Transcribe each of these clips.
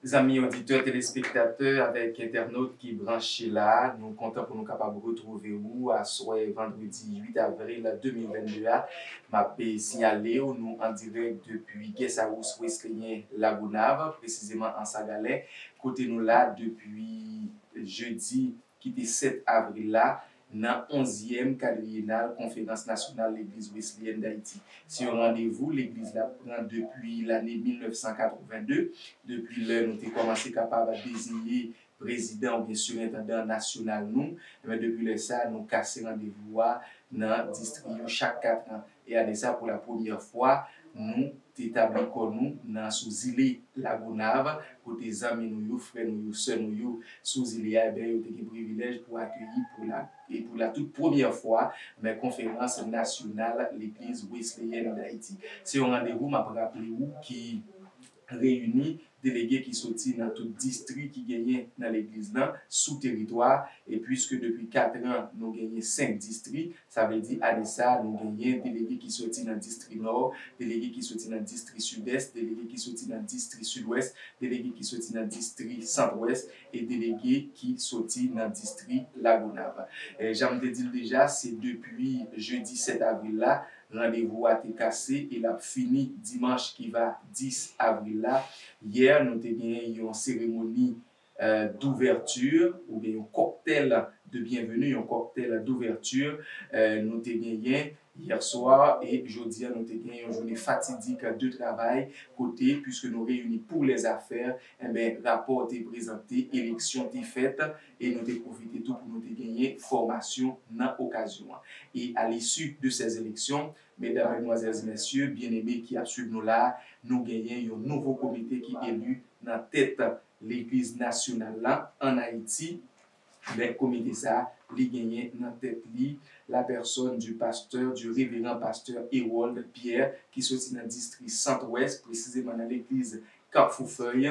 Zanmi oditè, telespektatè avèk entènot ki branche la, nou kontan pou nou kapab retwouve ou aswè vandredi 8 avril 2022 a. M ap siyale ou nou an dirèk depi Guest House Wesleyen Lagonav, presizeman Ansagalè, kote nou la depi jedi. ki te 7 avril la, nan onzyèm kadriyenal Konferans Nasyonal Legliz Weslyèn Dayiti. Se yon randevou Legliz la pran depi lane 1982, depi lè nou te kòmanse kapab deziye prezidan oubyen sirentandan nasyonal nou. Depi lè sa a, nou kase randevou a nan distri yo chak katran. E ane sa pou la premyè fwa nou te tabli kò nou nan sou zile Lagonav kote zanmi nou yo, frè nou yo, sè nou yo sou zile a enben yo te gen privilèj pou akeyi pou la e pou la tout premyè fwa men konferans nasyonal legliz Wesleyèn Dayiti. Se yon randevou m ap raple ou ki. reyini delege ki soti nan tout distri ki genyen nan legliz lan sou teritwa a, e puiske depi katran nou genyen senk distri, sa vle di ane sa a nou genyen delege ki soti nan distri nò, delege ki soti nan distri sidès, delege ki soti nan distri sidwès, delege ki soti nan distri santwès e delege ki soti nan distri Lagonav. Jan m te di l deja, se depi jedi 7 avril la Randevou a te kase e l ap fini dimanch ki va 10 avril la. Yè nou te gen yon seremoni d'ouverture oubyen yon cocktail de bienvenue, yon cocktail d'ouverture nou te genyen hier soir e jodi a nou te gen yon journée fatidique de travail kote puisque nou reyini pour les affaires enben rapò te prezante, eleksyon te fèt. e nou te pwofite tou pou nou te genyen fòmasyon nan okazyon an. E a lisi de sè eleksyon, Medam, Medmwazèlz, Mèsye, byeneme ki ap swiv nou la a, nou genyen yon nouvo komite ki eli nan tèt Legliz Nasyonal lan ann Ayiti, men komite sa a li genyen nan tèt li la pèsòn di pastè, di reveran pastè Hérold Pierre ki soti nan distri Sant-Ouès, presizeman nan legliz Kapfou Fèy,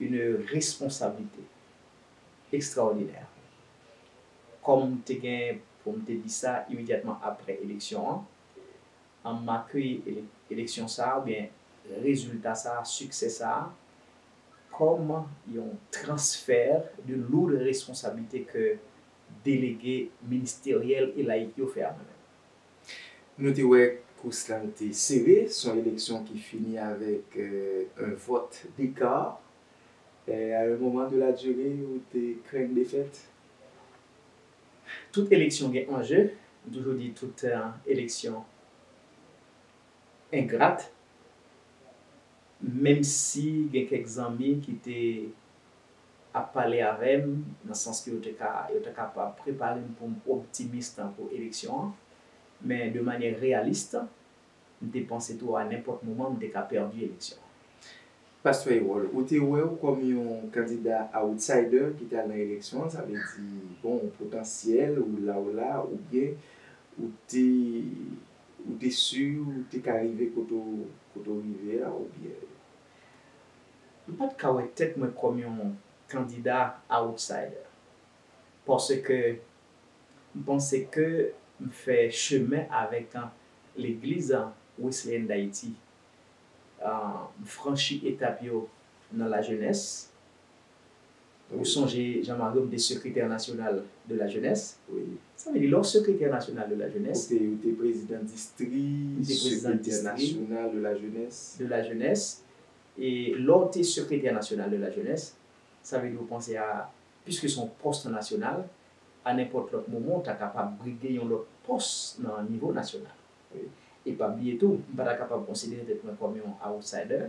une responsabilité extraordinaire kòm m te gen pou m te di sa imediatman aprè eleksyon an, an m akeyi eleksyon sa a oubyen rezilta sa a, siksè sa a kòm yon transfert de lourde responsabilité ke delege ministeryèl e layik yo fè a mwen menm. Nou te wè kous la te sere, s on eleksyon ki fini avèk 1 vòt deka. A un moman de la dure ou te krenn defèt? Tout eleksyon gen anje, m toujou di tout eleksyon engrat. Menm si gen kèk zanmi ki te ap pale avè m nan sans ke yo te ka yo ta kapab prepare m pou m optimis tankou eleksyon an, men de manyè reyalis, m te panse tou a nenpòt moman m te ka pèdi eleksyon an. Pastè Erol, ou te wè ou kòm yon kandida outsider ki tal nan eleksyon an, sa vle di, bon, ou potansyèl, ou la ou la, oubyen ou te Ou te su ou te ka rive kote ou rive a oubyen? M pat ka wè tèt mwen kòm yon kandida outsider paske m panse ke m fè chemen avèk legliz Wesleyèn Dayiti. M franchi etap yo nan lajenès Ou sonje Jean Marie m te sekretè nasyonal de la jenès. Sa vle di lè w sekretè nasyonal de la jenès. Ou te prezidan distri, sekretè nasyonal de la jenès. De la jenès. E lè w te sekretè nasyonal de la jenès, sa vle di ou panse a, piske se yon pòs nasyonal, a nenpòt lòt moman ou ta kapab brige yon lòt pòs nan nivo nasyonal. E pa bliye tou, m pa ta kapab konsidere tèt mwen kòm yon outsider.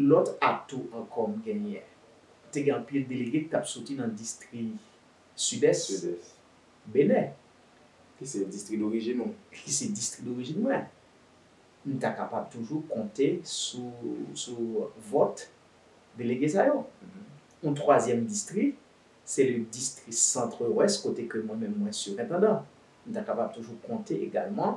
Lòt atou ankò m genyen, te gen anpil delege ki t ap soti nan distri Sidès, Benè. Ki se distri dorijin ou. Ki se distri dorijin mwen. M ta kapab toujou konte sou vòt delege sa yo. Yon twazyèm distri, se le distri Centre-Ouest kote ke mwen menm mwen sirentandan. M ta kapab toujou konte egalman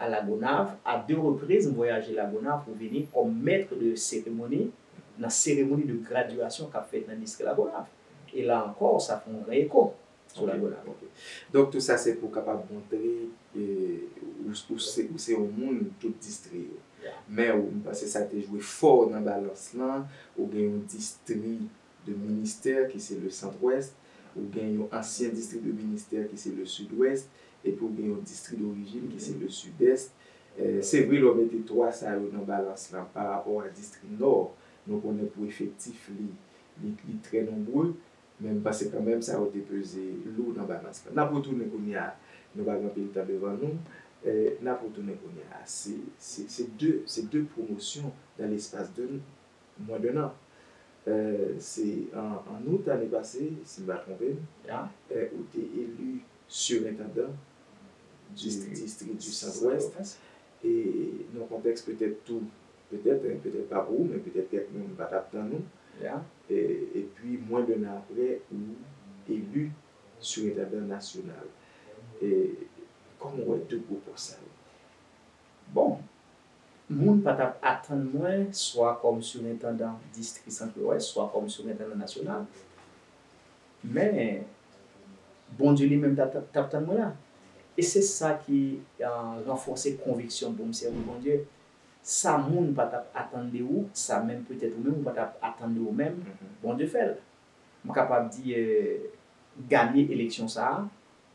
a La Gonâve, a 2 repriz m vwayaje La Gonâve pou vini kòm maître de cérémonie nan seremoni de graduation kap fèt nan distri La Gonâve. E la ankò sa fè yon gran eko sou La Gonâve. Ok. Donk tout sa se pou kapab montre ou se yon moun tout distri yo. Men ou m panse sa te jwe fò nan balans lan, ou gen yon distri de ministère ki se le Centre-Ouest, ou gen yon ancien district de ministère ki se le Sud-Ouest, epi ou gen yon district d'origine ki se le Sud-Est. Se vre lè w mete 3 sa yo nan balans lan pa rapò a district Nord, nou konnen pou efektif li, li trè nombreux, men m panse kan menm sa yo te peze lou nan balans lan. N ap retounen kounye a, nou pa gen anpil tan devan nou, n ap retounen kounye a. Se 2, se 2 promotions dans l'espace de. Mwen de nan. Se an out ane pase, si m pa twonpe m, ou te eli sirentandan distri di Santwès. E nan kontèks petèt tou, petèt, petèt pa pou ou, men petèt kèk moun pa t ap tann ou. Epi mwen de nan apre, ou eli sirentandan nasyonal. Kòman w wè 2 gwo pòs sa yo? Bon! Moun pa t ap atann mwen, swa kòm sirentandan Distri Sant Lwès, swa kòm sirentandan nasyonal. Men, Bondye li menm t ap tann mwen la. E se sa ki ranfòse konviksyon m pou m sèvi Bondye. Sa moun pa t ap atann de ou, sa menm petèt ou menm ou pa t ap atann de ou menm, Bondye fè l. M kapab di, ganye eleksyon sa a.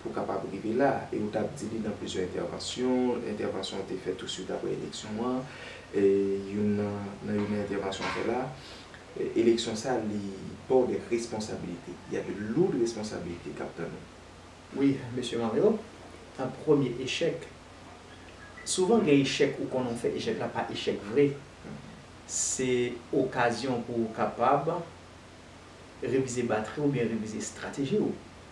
pou kapab rive la a. E ou tap di li nan plizyè entèvansyon, entèvansyon ou te fè touswit aprè eleksyon an, youn nan nan youn nan entèvansyon ou fè la a, eleksyon sa a li ba w dè responsabilite. Y a de lourd responsabilite kap tann ou. Wi, Mesye Mario, nan premye echèk, souvan gen echèk ou konnen ou fè echèk la pa echèk vre, se okazyon pou ou kapab revize batri ou oubyen revize estrateji ou.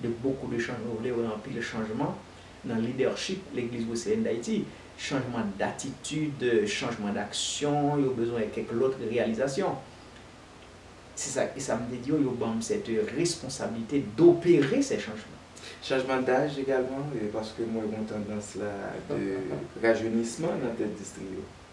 De beaucoup de change nou vle wè anpil chanjman nan leadership legliz wesleyèn dayiti, chanjman datitid, chanjman daksyon, yo bezwen kèk lòt reyalizasyon. Se sa e sa m te di yo, yo banm sète responsablite dopere sè chanjman. Chanjman daj egalman, paske m wè gon tandans la de rajeunisman nan tèt distri yo.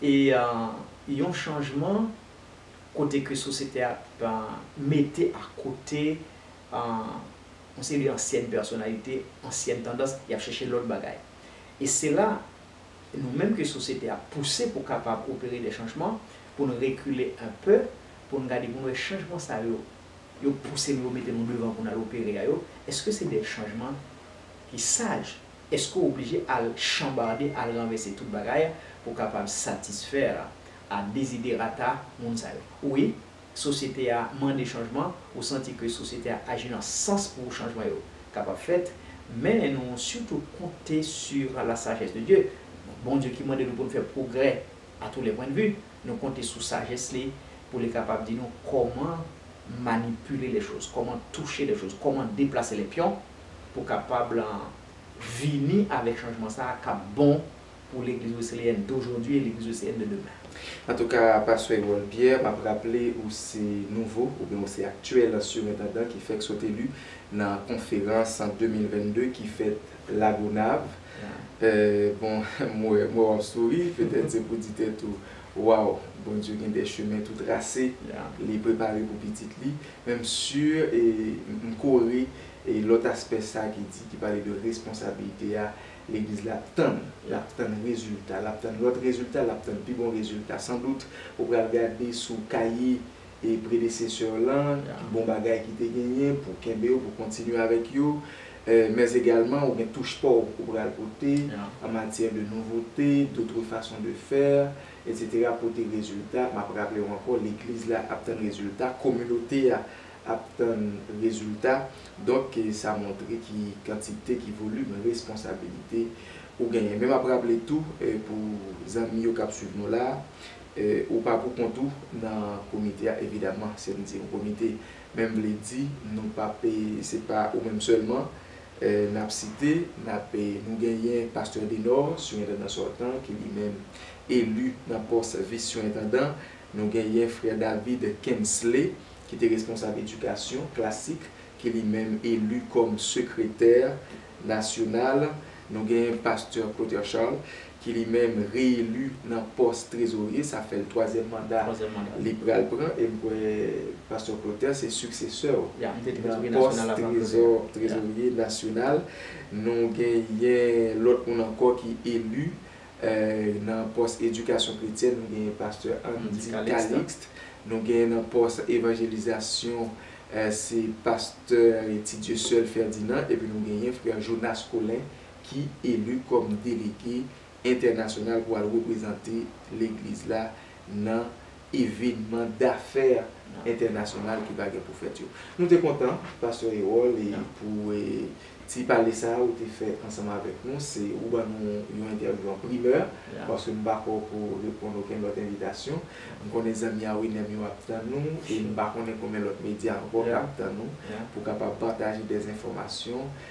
E yon chanjman kote ke sosyete a ap mete a kote yon seri de ansyèn pèsonalite, ansyèn tandans, y ap chèche lòt bagay. E se la nou menm ke sosyete a pouse pou kapab opere de chanjman, pou nou rekile enpe, pou nou gade pou nou wè chanjman sa yo, yo pouse nou, yo mete nou devan pou nou al opere a yo, èske se de chanjman ki saj? Èske w oblije al chanbarde, al ranvèse tout bagay pou w kapab satisfè a deziderata moun sa yo? Wi, sosyete a mande chanjman, ou santi ke sosyete a aji nan sans pou chanjman yo kapab fèt, men nou sitou konte sur la sagesse de Dieu, Bondye ki mande nou pou nou fè pwogrè a tous les points de vue, nou konte sou sajès li pou li kapab di nou kòman manipile les choses, kòman touche les choses, kòman deplase les pions. pou kapab vini avèk chanjman sa a k ap bon pou Legliz Wesleyèn dojodui e Legliz Wesleyèn de demen. Antouka, Pastè Erol Pierre, m ap raple ou se nouvo oubyen ou se aktyèl sirentandan ki fèk sot eli nan konferans 2022 ki fèt Lagonav. Bon, m wè w ap souri, petèt se pou di tèt ou, Waww, Bondye gen de chemen tou trase li prepare pou pitit li. Men m si e m kore. E lòt aspè sa ki di, ki pale de responsabilite a, legliz la ap tann, l ap tann rezilta, l ap tann lòt rezilta, l ap tann pi bon rezilta. San dout, ou pral gade sou kaye e predesesè w lan, ki bon bagay ki te genyen pou kenbe yo, pou kontinye avèk yo. Mèzegalman, ou gen touch pa w ou pral pote an matyè de nouvote, dotre fason de fè, etsetera, pote rezilta. M ap raple w ankò, legliz la ap tann rezilta, kominote a ap tann rezilta, donk sa montre ki kantite, ki volim responsabilite ou genyen. Men m ap raple tou pou zanmi yo k ap swiv nou la, ou pa pou kont ou nan komite a evidaman, se m di yon komite menm vle di nou pa pe, se pa ou menm sèlman n ap site, n ap, nou genyen pastè Denò, sirendandan sòtan ki li menm eli nan pòs vis sirendandan, nou genyen frè David Kensley, ki te responsab edikasyon klasik, ki li menm eli kòm sekretè nasyonal, nou gen pastè Clotaire Charles, ki li menm reeli nan pòs trezorye, sa fè l twazyèm manda li pral pran, e m kwè pastè Clotaire se siksesè w nan pòs trezorye nasyonal, nou genyen lòt moun ankò ki eli nan pòs edikasyon kretyèn nou genyen pastè Andy Calixte, nou genyen nan pòs evanjelizasyon se pastè Tidieusseul Ferdinand epi nou genyen frè Jonas Colin ki eli kòm delege entènasyonal pou al reprezante legliz la nan evenman dafè entènasyonal ki va gen pou fèt yo. Nou te kontan, Pastè Erol, pou ti pale sa a ou te fè ansanm avèk nou. Se ou ban nou yon entèvyou an primè, paske m pa kwè w pou reponn okenn lòt envitasyon. M konnen zanmi a William yo ap tann nou, e m pa konnen konbyen lòt medya ankò k ap tann ou pou kapab pataje dèzenfòmasyon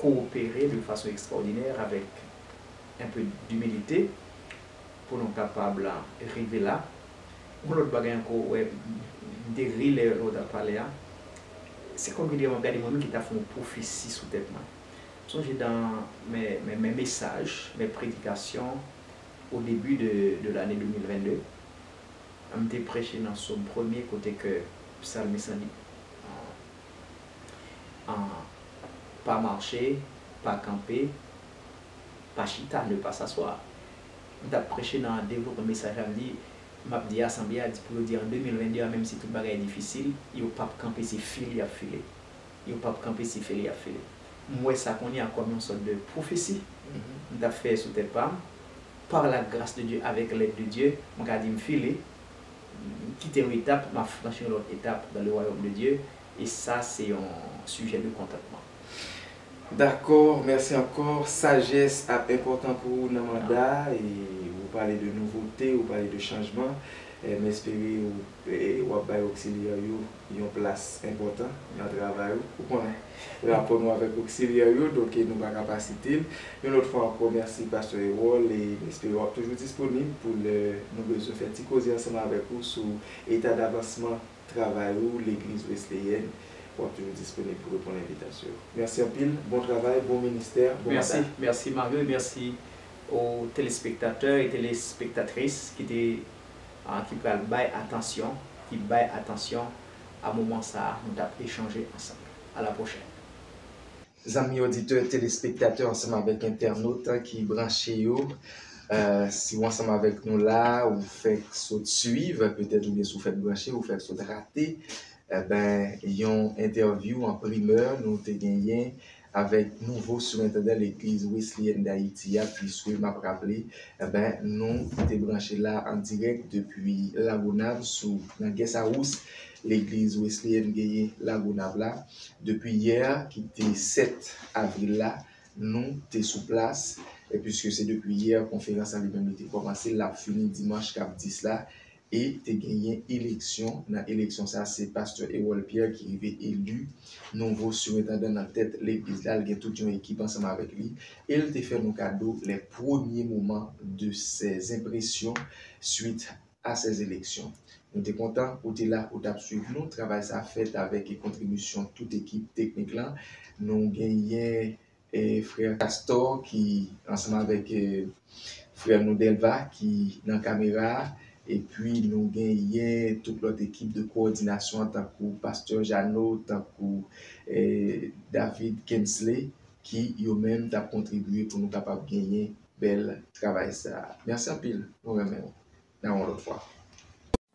kowopere de fason ekstraòdinè avèk un peu d'humilité pou nou kapab rive la. Yon lòt bagay ankò ou wè, m te ri lè ou t ap pale a, se kòmki dèyè m ap gade mwen menm ki ta fè yon pwofesi sou tèt mwen. M sonje dans mes mes messages, mes prédications au début de de l'année 2022, m te preche nan Sòm premye kote ke psalmiste lan di, an pa mache, pa kanpe, pa chita, ne pas s'asseoir. M tap preche nan devlopman mesaj la m di map di asanble a di pou yo di an 2022 a menm si tout bagay difisil yo pap kanpe se file yap file yo pap kanpe se file yap file m wè sa kounye a kòm yon sòt de pwofesi m tap fè sou tèt pam par la gras de Dye avèk lèd de Dye m ka di m file M kite yon etap, m ap franchi yon lòt etap dans le royaume de Dieu, e sa se yon sujet de kontantman. Dakò, mèsi ankò. Sajès ap enpòtan pou ou nan manda a, e ou pale de nouvote, ou pale de chanjman. M espere w ap bay oksilyè w yo yon plas enpòtan nan travay ou. Ou konnen rapò nou avèk oksilyè yo, donk nou pa ka pa site l. Yon lòt fwa ankò, mèsi pastè Erol e m espere w ap toujou disponib pou lè nou bezwen fè ti koze ansanm avèk ou sou eta davansman travay ou Legliz Wesleyèn. W ap toujou disponib pou reponn envitasyon yo. Mèsi anpil. Bon travay, bon ministè, bon manda. Mèsi, mèsi Mario e mèsi o telespektatè e telespektatris ki te ki pral bay atansyon, ki bay atansyon a moman sa a nou t ap echanje ansanm. A la pwochèn! Zanmi oditè, telespektatè ansanm avèk entènot ki branche yo, si ou ansanm avèk nou la a, ou fèk sot suiv, petèt oubyen si ou fèk branche, ou fèk sot rate, enben yon entèvyou an primè nou te genyen Avèk nouvo Surentandan Legliz Wesleyèn Dayiti a, Pliswe, m ap raple, enben, nou te branche la an dirèk depi Lagonav sou nan Gèsawous, Legliz Wesleyèn genyen Lagonav la. Depi yè a ki te 7 avril la, nou te sou plas, e piske se depi yè konferans la li menm li te kòmanse, l ap fini dimanch k ap 10 la, e te genyen eleksyon, nan eleksyon sa a se pastè Erol Pierre ki rive eli nouvo sirentandan nan tèt legliz la, li gen tout yon ekip ansanm avèk li e li te fè nou kado lè premye moman de sè zenpresyon swit a sè eleksyon. Nou te kontan ou te la ou tap swiv nou, travay sa fèt avèk kontribisyon tout ekip teknik lan, nou genyen E frère Castor ki ansanm avèk frère nou Delva ki nan kamera a epi nou genyen tout lòt ekip de kowòdinasyon an tankou Pasteur Jeannot, tankou David Kensley ki yo menm tap kontribye pou nou kapab genyen bèl travay sa. Mèsi anpil, nou renmen nou. Nan yon lòt fwa.